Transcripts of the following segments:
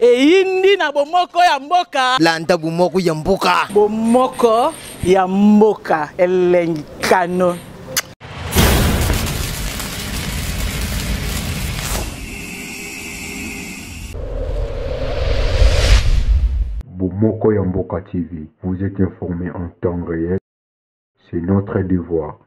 eyindi na bomoko ya mboka landa bomoko ya mboka bomoko ya mboka elengi kano Moko Yamboka TV, vous êtes informé en temps réel. C'est notre devoir.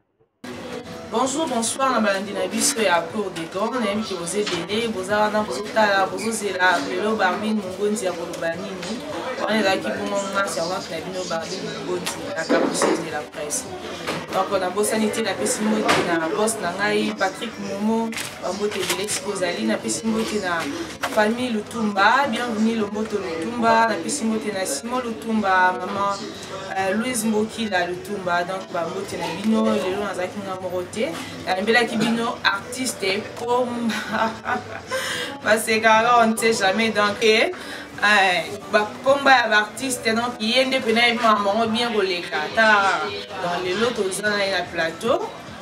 Bonjour, bonsoir na balandi na biso ya cour de gor nayebi ke boza ebele boza wana bozotala bozozela lelo barbine mongonzi ya koloba nini wana ezalaki bongo nga servante na bino barbine mongonzi na capriceuse de la presse donc nabosani te napesi mbote na bos na ngai patrick momo bambote ebele siko ozali napesi mbote na famille lutumba bienvenu lomboto lutumba napesi mbote na simon lutumba mama Euh, louise mbokila lutumba donc bambote na bino lelo nazalaki nga moko te nalembelaki bino artiste pomba basekaka on ne sait jamais donc eh, bakomba ya baartiste donc ye nde mpe nayebi mamango bien koleka ata donc lelo toza na ye na plateau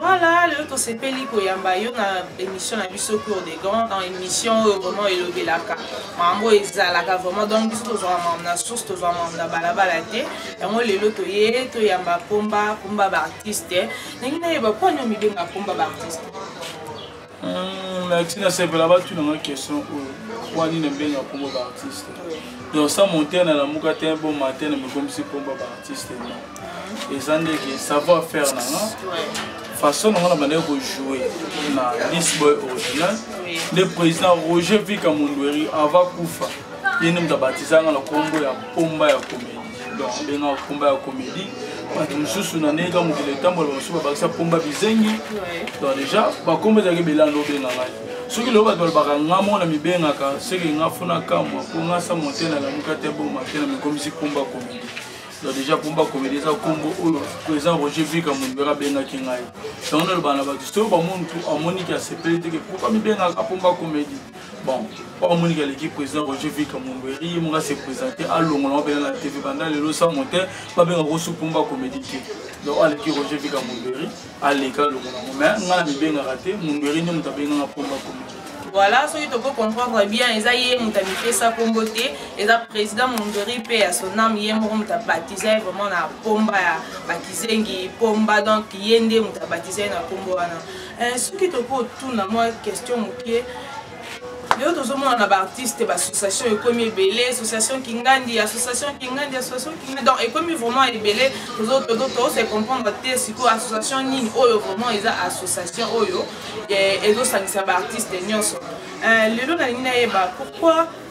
Voilà, le tosepeli koyamba yo na émission na biso cour des grands dans émission oyo vraiment elobelaka makambo ezalaka vraiment donc biso tozwaka makambo na source tozwa makambo na balabala te yango lelo toye toyamba pomba pomba baartiste ndenge nayeba mpo ani omibenga pomba baartiste Hmm, na tina sepela batuna nga question oyo wani na mbenga kombo ba artiste donc sa monter na lamuka te bon matin na mikomisi kombo ba artiste no eza ndeke savoir faire na nga façon na nga na bandaki kojoue na lisboy original nde président roger vika mondweri ava kufa ye nde moto abatisa nga na kombo ya pomba ya komedi donc abenga komba ya comédie bato mosusu na ndenge kaka mokili etambola bamosusu babakisa pomba bizengi donc déjà bakomba ezalaki belanda obenga ngai soki lelo bato balobaka nga mona mibengaka seke nga fona kamwa mpo nga sa monte na lamuka te boma te na mikomisi pomba comédie donc déjà pomba comédie eza nkombo oyo président roger vika mondibera abengaki ngai yango nalobaka na bato soki bamuntu amoniki asepeli teke pourkua mibengaka pomba comédie bon oyo amoniki aleki président roger vika momberi ye moko ase présente alongola mabele na tv banda lelo sa mote babenga ko supumba comédie te donc aleki roger vika momberi aleka alongola ngo mais ngai na mibengaka te momberi nde moto abenganga pomba comédie voilà soki toko comprendre bien eza ye moto amipesa nkombo te eza président mondori mpe ya sonam ye moko moto abatize ye vraiment na pomba ya bakizengi pomba donc ye nde moto abatize ye na nkombo wana Eh, soki tokoki otuna mwa question moke lelo tozomona na baartiste baassociation ekomi ebele association kingandi association kingandi association kingandi donc ekomi vraiment ebele tozose comprendre te sikoyo association nini oyo vraiment eza association oyo eh, ezosangisa baartiste nyonso eh, lelo nalingi nayeba pourquoi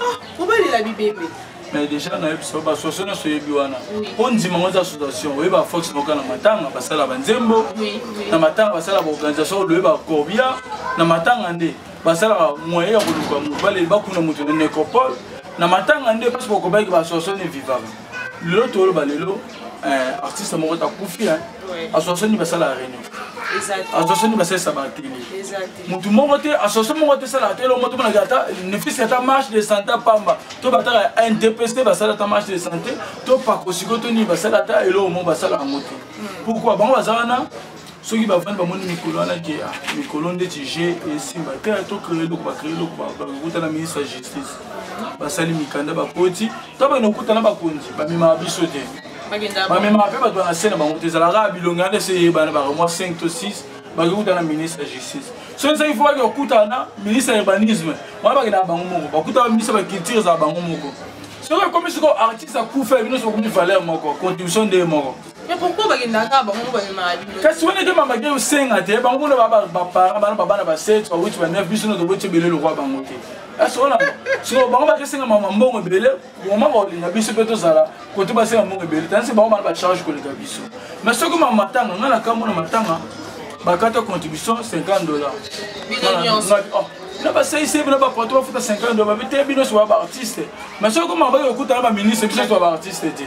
ah obalela bibembe mais déjà nayebi biso basoso nyonso oyebi wana mpo ndima yango eza association oyebi bafox moka na matanga basala banzembo na matanga basala baorganisation oloye bacorbia na matanga nde basalaka moyen ya koluka moto baleli bakuna moto na necropole na matanga nde parce bokobaki basoso ne vivaka lelo toloba lelo eh, artiste moko takufi association nde basala réunion association nde basalisa batele motu moko te association moko te esalaka te elongo tomonaka ata nefisi ata marche de santé pamba to bataka ndps te basala ata marche de santé to pakosiko to nini basala ata eloko moko basala yango te hmm. pourkui bango baza wana soki bavandi bamoni mikolo wana ke ah, mikolo ndeti je esimba te to créer eloko bacréer eloko bakuta na ministre ya justice basali mikanda bakoti to bana okuta na bakonzi bamemaka biso te bamemaka mpe bato ya na se na bango te ezalaka bilongi wana ese eyebana bakamwa 5 to 6 bakikuta na ministre ya justice soki ezaki fo baki bakutana na ministre ya urbanisme wana bakenda bango moko bakuta ba ministre ya culture ezala bango moko soki ekomi siko artiste akufa bino sokomi valeur moko contribution nde moko kasi wana ete mamaki osenga te bango mona baparent bana babana ba 7 ba 8 ba 9 biso no toboti ebele lokwa bango te kasi wana siko bango bakesenga mama mbongo ebele vraiment bakolinga biso mpe tozala kote basenga mbongo ebele tanisi bango bana bacharge koleka biso mais soki ma matanga ngai nakambo na matanga bakata contribution 50 dollar oh, na basaise bino bapoto bafuta 50 dollar babi te bino soba baartiste mais soki komaka bayokuta na baministre biso soba baartiste te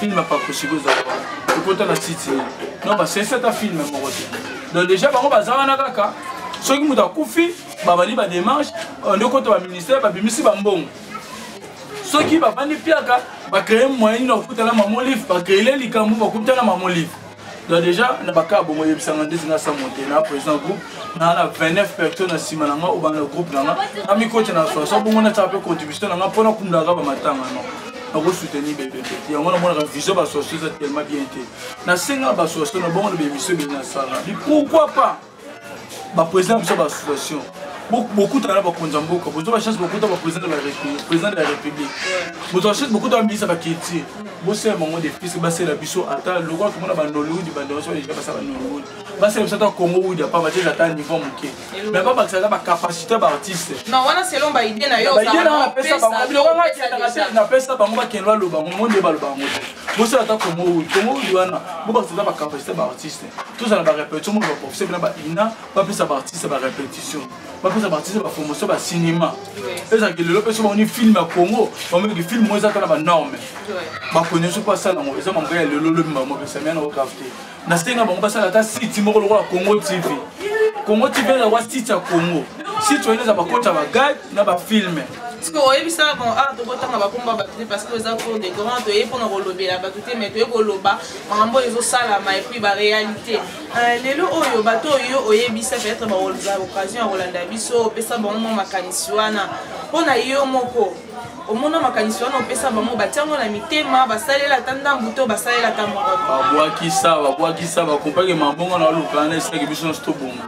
film ya pakosiko eza ekota na site nini non basensi ata film moko te donc déjà bango baza wana kaka soki moto akufi babandi bademarche euh, nde okota baministère babimisi bambongo soki bafandi mpiaka bacreye moyen nini bakutana mamolive bacreele likambo bakutana mamolive donc déjà na bakaa bongo oyebisanga ndeti nga sa monte na président groupe naa na 29 personnes na nsima na nga obanda groupe na nga namikoti na 60 bongo natyaka mpe contribution na nga mpo nakundaka bamatanga no nakosoutenir bebebe yango namonaka vision basoso eza tellement bien te nasenga basoso na bongo na bemission bini nasala pourquoi pas baprésident biso baassociation bokutana na bakonzi ya mboka bozwa bachance bokuta baprésident de la république président de la république bozwa chance bokuta baminisa baculture bosala bango defise basala biso ata lokola tomona banollywood bandeoso deja basala banollywood basala biso ata congo wood apa bateza ata niveau moke mais babakisa ata bacapacité baartiste baide napesa bango bakende baloba yango mo nde baloba yango te bosala ata congo wood congo wood wana bobakisa ata bacapacité baartiste tozala ba répétition moko baprofesseur bina ba ina bapesa baartiste ba répétition bapesa baartiste bapromotion ba cinéma ezalaki lelo mpe so bamoni film ya congo bamonaki film oyo eza kaka na banorme bakonye so mpo asala yango eza mambo ya lelo lobi mbamo pesamia na okaf te nasenga bango basala ata site moko lokola congo tv congo tv eza wa site ya congo site oyo eza bakota bagade na bafilme sikoyo oyebisaka bango awa tokotanga bakombo ya bato te parce que eza cour de grand toyei mpona kolobela bato te mai toyei koloba makambo oyo ezosalama epuis barealité euh, lelo oyo bato oyo oyebisa peut-être bakolza occasion ya kolanda biso opesa bango mwa makanisi wana mpo na yo moko omona makanisi wana opesa bango batiango na mitema basalela ata ndambu to basalela ata moko babwakisa babwakisa bakopake mabongo na oluka na esilaki biso nyonso tobonga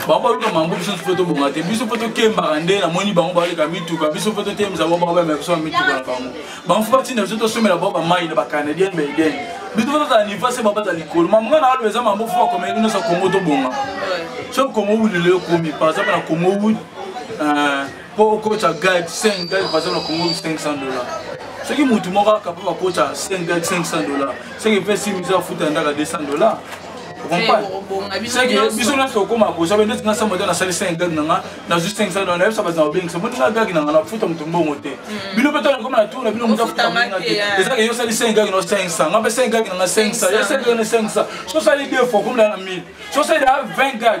bango baluka mambo biso mpe tobonga te biso mpe tokembaka nde namoni bango baleka mituka biso mpe totembisa bango bakobema biso na mituka na bango banfu batinda biso tosomela bango bamai na bacanadien baeden biso mpe tozala niva se babata likolo mamanga na aloba eza mambo fo bakomeli bino sa kongo tobonga so kongo wud lelo ekomi par exemple na kongo wud mpo euh, okotya guide 5 guide par exemple na kongo wud 500 dollar soki motu moko akapa bakotya 5 guide 500 dollar soki mpe simisa afuta ndaka 200 dollar biso nyonso tokoma kozwa bende tinga sa moto nasali 5 gag na nga nazwi 5 sa dona nayebisa bato na kobengisa moni nga gag na nga nafuta moto mbongo te mm. bino mpe tona koma na tour na bino moto afuta mbongo te ezaka yo osali 5 gag na 5 sa nga mpe 5 gag na nga 5 sa yo 5 gag na 5 sa so osali 2 fois okomela na 1000 so osali da 20 gag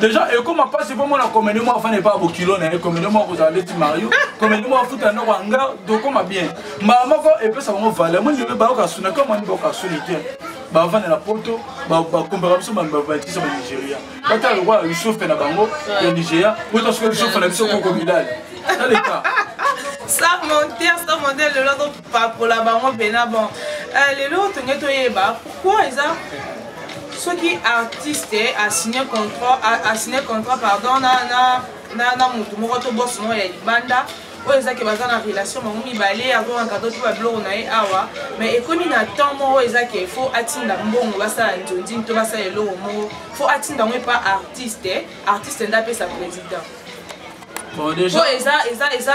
deja ekoma mpasi mpo mona komedi moko afanda epa bokilo na ye komedi moko kozala ndeti mario komedi moko afuta ndako ya nga dokoma bien mbala moko epesa bango valeur moni bebe bayoka suna koma ni bayoka suni te bavanda na poto bakombaka biso babatisa banigeria batala lokola yusufe na bango ya nigeria bota soki yusufe na biso kokomidali taleka sans monter sans monter lelo pakola bango mpena bon euh, lelo tonge toyeba pourkui eza soki artiste asigne contrat asigne contrat pardon na, na, na, na motu moko to bosi moko ya libanda oyo ezaki baza na relation bango mibale akokaka to tuba biloko na ye awa mais ekomi na temps moko ezaki fo atinda mbongo basala nzonzini to basala eloko moko fo atinda yango epa artiste artiste nde apesa président Bon, déjà... po eza eza eza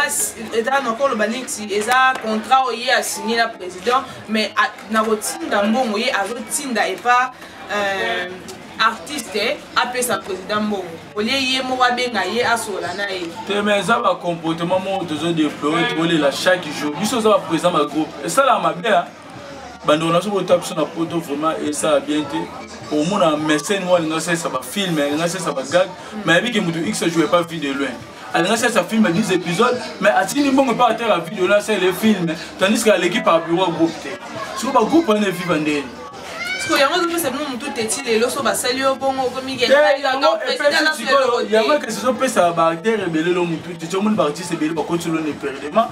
eza nakoloba neti eza contrat oyo ye asigne na président mais na kotinda mbongo ye azotinda epa euh, artiste apesa président mbongo olie ye moko abenga ye asola na ye te ma eza bacomportement moko tozodeploye tokolela chaque jour biso oza baprésident bagroupe esalaka mabe bandeko naso kota biso na poto vraiment esala bien te omona mesene moko alinga asalisa bafilme alinga asalisa bagag mais ayebi ke moto x joue pas vie de loin alinga asalisa filme 10 épisode mais atindi mbongo epa atala vie de loin asalela efilme tandis ke aleki par bureau ya groupe te siko bagroupe wana eviva ndeni siko yango ezopesa bino motu te ti lelo so basali yo bongo okomiyango ekesi ezopesa baacteur ebele lo motu te ti omoni baartiste ebele bakoti lo na eperdement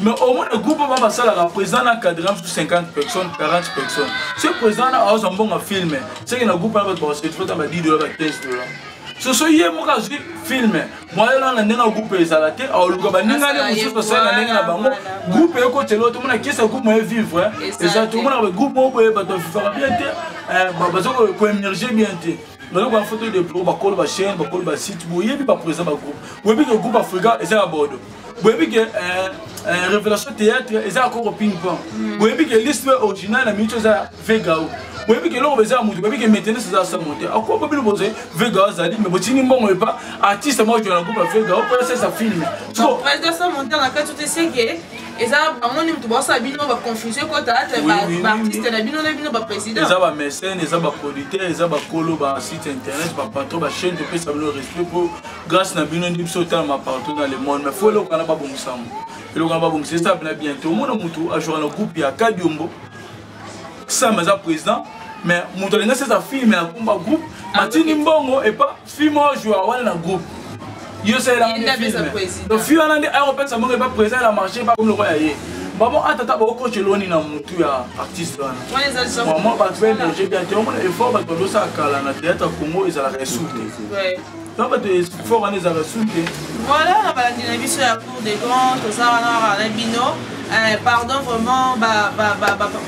mais au moins le groupe wana basalaka président na cadre mosusu 50 personnes 40 personnes ce président na aozwa mbongo filme seke na groupe wana bato bakosetrota ba 10 dola ba 15 dola soso ye moko azwi filme mwaye lana ndenge ya groupe ezala te aoluka baningani mosusu asala na ndenge na bango groupe ekotela tomona kesa groupe moye vivre eza tomona groupe moko boye bato bafifaka bien te eh, baza koemerge bien te nayo ba photo de pro bakolo ba chaîne bakolo ba site boyebi ba président ba groupe boyebi ke groupe africa eza ya bodo boyebi ke euh, euh, révélation théâtre eza ya koko ping pong hmm. boyebi ke liste original na minute eza vegao boyebi ke eloko eza ya moto boyebi ke maintenance eza somo te ako bobino bozali vegao azali me botindi mbongo epa artiste moko jona groupe ya vegao mpo esesa film président samonta na kati oteseke eza bango nde moto baosala bino baconfusion ekota ata baartiste na bino na bino baprésident eza bamesene eza baproducteur eza bakolo basite internet bapatron bachaine topesa bino respect mpo grâce na bino nde biso otalama partout dans le monde mais fo eloko wana babongisa yango eloko wana babongisa eza bina bientôt omona motu ajouka na groupe ya kadiombo sam aza président mais moto alingi asesa filme ya kumba groupe ah, matini mbongo epa filme oyo ajouka wana na groupe yo osalelangafilme fi wana nde ayokopesa mbongo epa président ya marché epa komi lokola ya ye bamo atata bakokoce eloni na motu ya artiste wana mwa bato baemerge bien te omona effort bato bazosala kala na théâtre congo ezalaka esuku te na bato fort wana ezalaka sunte voilà na balandi na biso ya cour de grand toza wana kaka na bino eh, pardon vraiment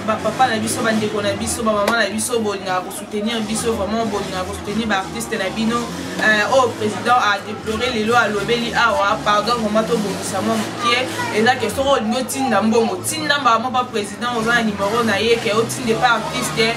bapapa na biso bandeko na biso bamama na biso bolingaka kosoutenir biso vraiment bolingaka kosoutenir baartiste na bino eh, oyo oh, président adeplore lelo alobeli awa pardon vraiment tobongisa mwa mokie eza ke soki olingi otinda mbongo tinda mbala moko président oza na nimero na ye ke otinda epa artiste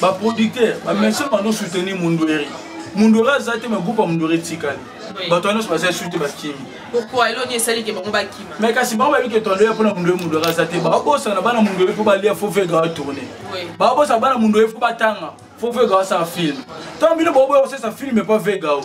ba producteur ba monsieur mano soutenir mundueri mundueri aza te ma groupe ya mundueri etikali bato wana nyonso bazali suki bakimi me kasi bango bayebi ke tondo ya mpona mundu ye mundu yaka aza te babosana bana mundu ye mpo balia fo fo ekawa tourne babosana bana mundu ye fo batanga fo fo ekawa asala filme ntango bino boboya kosesa filme mpo vegao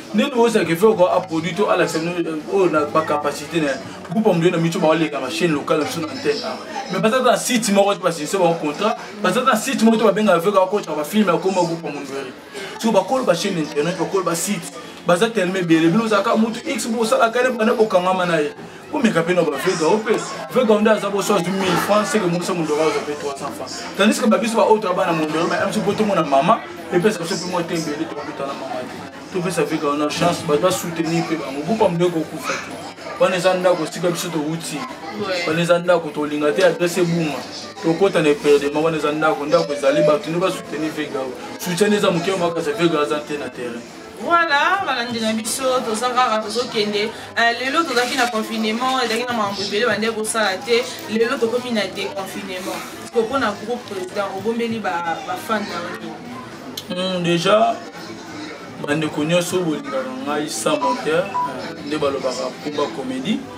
ndenge ozala ke foko aproduit to alakisa bino euh, oyo na bacapacité na groupe ya moyo na mico baoleka na chaîne locale na biso na antenne a mais baza ta na site moko te basinise bango contrat baza ta na site moko te babengaka feko akotaka bafilme akoma groupe ya mondweri so bakolo bachaîne internet bakolo basite baza telema ebele bino ozalaka motu x bosalaka ne bana bokangama na ye omeka mpe na bavega o mpe vega nde aza boso azwi 1000 franc seke mosa mondoro aza mpe 300 franc tandis ke babiso baoyo toya bana mondoro ma biso mpo tomona mama epesa biso mpe mwa tembele tokokuta na mama te topesa vega wana chance bato basoutenir mpe bango bupa mpe kokufa te wana eza ndako esika biso towuti wana eza ndako tolinga te adresse ebunga tokota na eperdema wana eza ndako ndako ezali bato nde basoutenir vega soutien eza moke makasa vega aza te na terrain voilà balandi na biso toza kaka tozokende euh, lelo tozalaki na confinement ezalaki na makambo ebele bande kosala te lelo tokomi na déconfinement po mpo na groupe président obombeli bafan na yo hmm, déjà bandeko nyonso bolingaka ngai sans monteur nde balobaka kumba comédie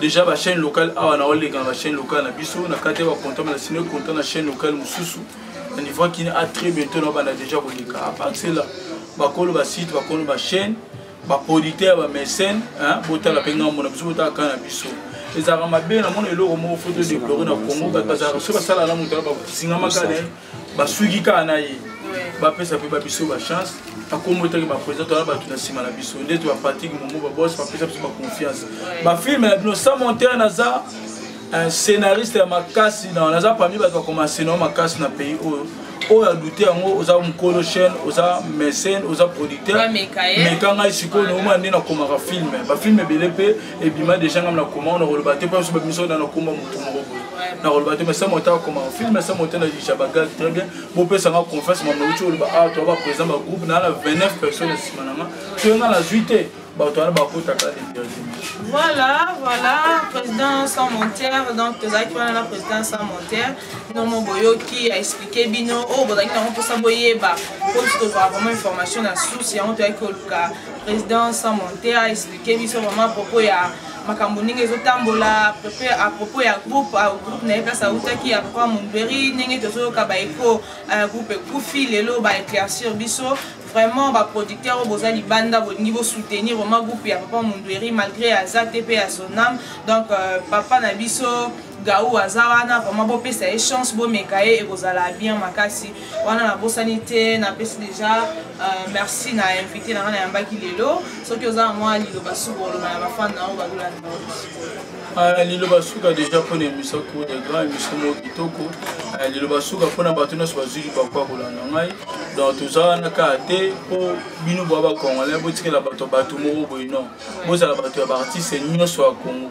déjà ba chaîne locale awa na oleka na ba chaîne locale na biso na kati ya ba content na sino content na chaîne locale mususu na niveau qui a très bientôt na bana déjà koleka à part cela bakolo ba site bakolo ba chaîne ba producteur ba mécène hein botala pe ngambo na biso botala kana biso ezalaka mabe na mona eloko moko foto deplore na congo bato bazalaka so basala na moto bakosingamaka na ye basuki kaka na ye bapesa mpe babiso bachance akombo etaki bapresident toya bato na nsima na biso nde to bapatrick momo babos bapesa biso baconfiance bafilme na bino sans monteur naza un scénariste ya makasi na naza parmi bato bakoma scénario makasi na pays oyo oyo adute yango oza mokolo chaîne oza mécène oza producteur meka ngai sikoyo naomona nde nakomaka filme bafilme ebele mpe ebima deja ngai nakoma nakoloba te mpo biso bamiso na nakoma motu moko boye nakoloba te mais sa moto akoma film sa moto na lisha bagage très bien bopesa nga confiance mambo uti oloba awa ah, toa baprésident bagroupe naa na 29 personnes nsima na nga toye nga nazwi te bato wana bakotaka voilà voilà président sans montaire donc tozalaki wana na président sans montaire nomo boyoki aexplike bino oyo oh, bozalaki nango mposa boyeba mpo biso tozwaka vraiment information na source yango toyaki koluka président sans montaire aexplike biso vraiment propos ya makambo ndenge ezotambola à propos ya groupe groupe na ye place autaki ya papa mondweri ndenge tozoyoka baeko euh, groupe ekufi lelo baeclaircir biso vraiment baproducteur oyo boza libanda bolingi bosoutenir vraiment groupe ya papa mondweri malgré aza te mpe ya sonam donc euh, papa na biso gau aza wana vraiment bopesa ye chance bomeka ye ekozala bien makasi wana nabosani te napesi deja uh, merci na invité na nga nayambaki lelo soki oza na mwa liloba suka oloba na bafane na yango balolani ah, liloba suka deja mpona emission kuna grand emission moko kitoko ah, liloba suka mpona bato nyonso bazwi libaku ya kolanda ngai donc toza wana kaka te mpo bino boya bacongolais botikela bato bato moko boye non bozala bato ya baartiste nyonso ya congo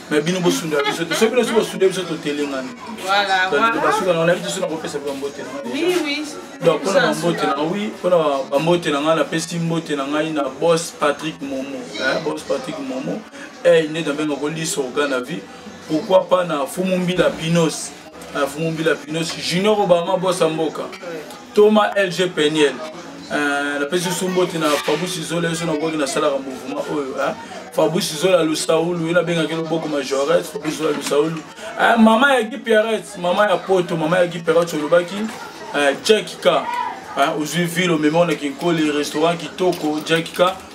mais bino bosundela biso te soki bino soki bosunde biso totelengani basuka nanga nayebi te soki nakopesa mpe bambote donc mpona bambote nanga wi mpona bambote na ngai napesi mbote na ngai na bos patrick momo bos patrick momo ey nde na benga koliso oga na vie pourquoi pas na fumu mbila binos euh, fumu mbila pinos junior obama bosa mboka toma lg peniel euh, napesi sumboti na fabusi zola yeso nakoki nasalaka mouvema oyo fabrice zola lusaulu ye nabengaki loboko majoret fabrice zola lusaulu eh, mama ya gipiaret mama ya poto mama ya gipiaret olobaki eh, jack ka eh, ozwi ville omema ona kinkoli restaurant kitoko jack ka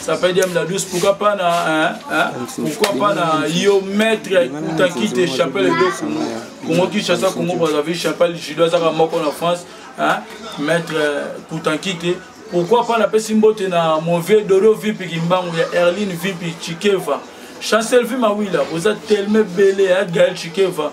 ça peut dire la douce pourquoi pas na hein, hein, pourquoi pas na yo maître kuta qui te chapelle de Congo Congo Kinshasa Congo Brazzaville chapelle judo azaka moko na France hein maître euh, kuta qui te pourquoi pas na pesi mbote na mon vieux Dodo Vipi Kimbangu ya Erline Vipi Chikeva Chancel Vimawila vous êtes tellement belé hein Gaël Chikeva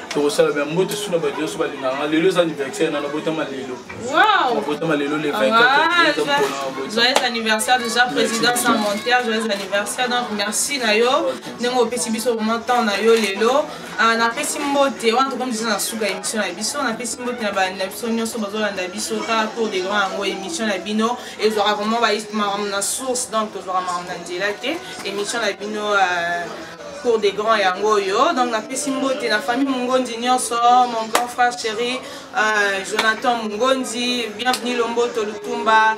tokosala bya mbote suna bato nyonso balingaka nga lelo eza anniversaire nana botama lelo botama lelo le 24joyeux anniversaire déjà président sans monter joyeux anniversaire donc merci na yo ndenge opesi biso vraiment temps na yo lelo ah, napesi mbote wana tokomi deja na suka ya émission na biso napesi mbote na balandi na biso nyonso bazolanda biso kaka tour de grand yango émission na bino ezwaka vraiment makambo na source donc tozwaka makambo na nzela te émission na bino euh, cour des grands yango oyo donc napesi mbote na famille mongondi nyonso mon grand frère chéri euh, jonathan mongondi bienvenu lomboto lutumba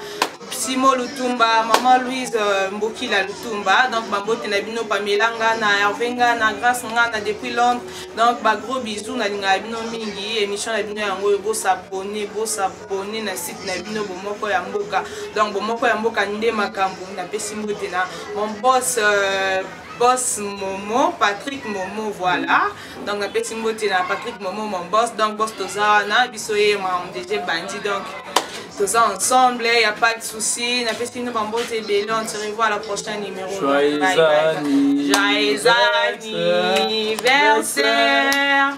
simo lutumba maman louise euh, mbokila lutumba donc bambote na bino pamela nga na herve nga na grace nga na depuis londres donc bagros bisou nalingaka bino mingi émission na bino yango oyo bosabone bosabone na site na bino bomoko ya mboka donc bomoko ya mboka nde makambo napesi mbote na mon boss euh, boss momo patrick momo voilà donc napesi mbote na patrick momo mon boss donc boss toza wana biso ye mamdg bandi donc toza ensemble y a pas de souci napesi bino bambote ebele on se revoit la prochaine numéro joyeux anniversaire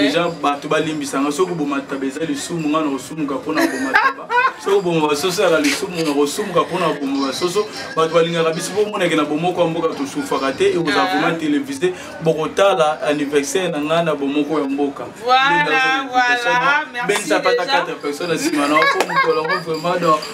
deja bato balimbisanga soki oboma taba eza lisumu ngai nakosumuka mpo na boma taba soki oboma basoso yaka lisumu nakosumuka mpo na boma basoso bato balingaka biso mpo omonake na bomoko ya mboka tosufaka te ekozala vraimen ah. televise bokotala anniversaire na ngai na bomoko ya mboka benisa pata 4 personne nsima na mpo mokolo yango vraimen